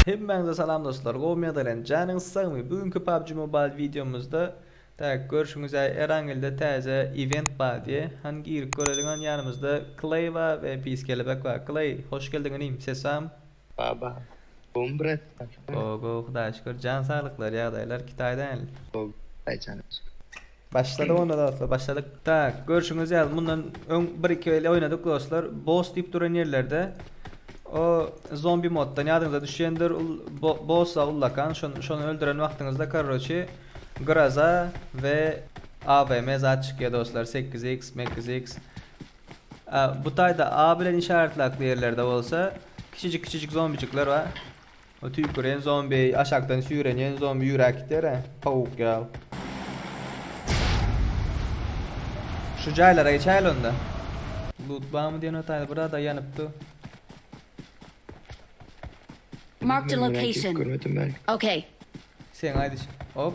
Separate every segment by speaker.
Speaker 1: Hemmäňize salam dostlar, gowy medelän, janyňyz sagmy? Bu günki PUBG Mobile wideomyzda tak görşüňiz ýaly Erangelde täze event bar diýe. Hany girip göreliň, hany ýanymyzda Kley bar we Pis Kelebek bar. Kley, hoş geldiň inim, sesam. Baba gom bir et. Gowy gowy hudaýa şükür jan saglyklar ýagdaýlar kitaýda hälli. Gowy hudaýa jana şükür. Başladyk onda dostlar başladyk. Tak görşüňiz ýaly mundan öň bir iki el oýnadyk dostlar boss diýip duran ýerlerde o zombi moddan ýadyňyza düşýändir bossa ullakan şony öldüren wagtyňyzda korroçe graza we avm zat çykýar dostlar sekiz x mekiz x Bu taýda A bilen işaratlaky ýerlerde bolsa kiçijik-kiçijik zombijikler bar. O tüýküren zombi, aşakdan süýrenýän zombi ýüräp gidýär-ä, towuk ýaly. Şu jaýlara geçäýeli onda. Lut barmy diýen o taýda bir zada ýanypdy. Marked a location. Okay. Seň aýdyşyň. Hop.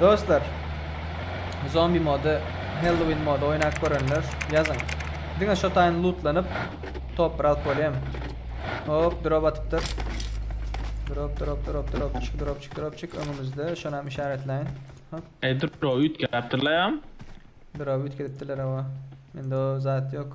Speaker 1: Dostlar, zombi modu, Halloween modu oýnap görenler ýazyň. Diňe şu taýyn lootlanyp, top alyp bolýam. Hop, drop atypdyr. Drop, drop, drop, drop, çyk, drop, çyk, drop, çyk. Öňümizde, şony hem işaretläýin. Hop. Ey, drop üýtgäpdirler hem. Drop üýtgedipdirler, awa. Mende o zat ýok.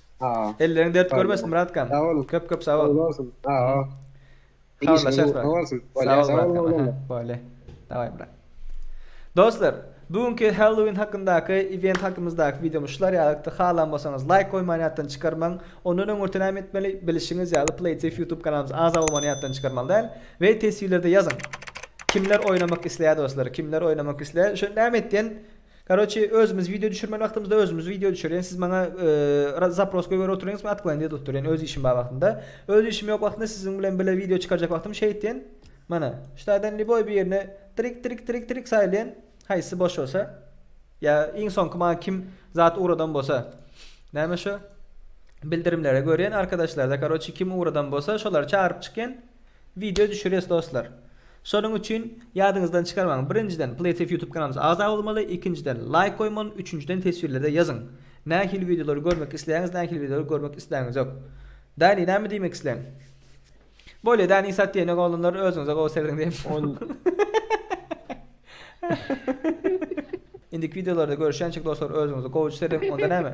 Speaker 1: Elleriň dert görmesin Myratkan. Sag boluň. Köp köp sag bol. Uly bolsun. Sag ol. Habarlaşarys bak. Sag bol Myratkan. Bolýa. Daway brat. Dostlar, bu günki Halloween hakyndaky event hakymyzdaky wideomyz şular ýalykdy. Halan bolsaňyz laýk goýmany ýatdan çykarmaň. Ondan öňürti näme etmeli? Bilişiňiz ýaly PlayTief YouTube kanalymyza agza bolmany ýatdan çykarmaly däl we teswirlerde ýazyň. Kimler oýnamak isleýär dostlar? Kimler oýnamak isleýär? Şuny näme et diýen? Karoçi özümiz video düşürmeli wagtymyzda özümiz video düşürýän siz maňa zapros goýberip oturyňyz men atklanyýa edip durýan öz işim bar wagtynda öz işim ýok wagtynda siziň bilen bile video çykarjak wagtym şeýtýän mana ştaýdan liboý bir ýerine trik trik trik trik saýylýan haýsy boş bolsa ýa iň soňky maňa kim zat ugradan bolsa näme şu bildirimlere görýän arkadaşlarda karoçi kim ugradan bolsa şolary çagyryp çykýan Wideo düşürýäs dostlar. Şonuň üçin ýadyňyzdan çykarmaň. Birinjiden PlaySafe YouTube kanalymyza agza bolmaly, ikinjiden laýk goýmaly, üçünjiden teswirlerde ýazyň. Nähili wideolary görmek isleýäňiz, nähili wideolary görmek isläňizok. Dani näme diýmek isleň? Bolýa Dani sat diýenok oglanlar özüňize gowy serediň diýip. Indiki wideolarda görüşýänçik dostlar özüňize gowy serediň onda näme?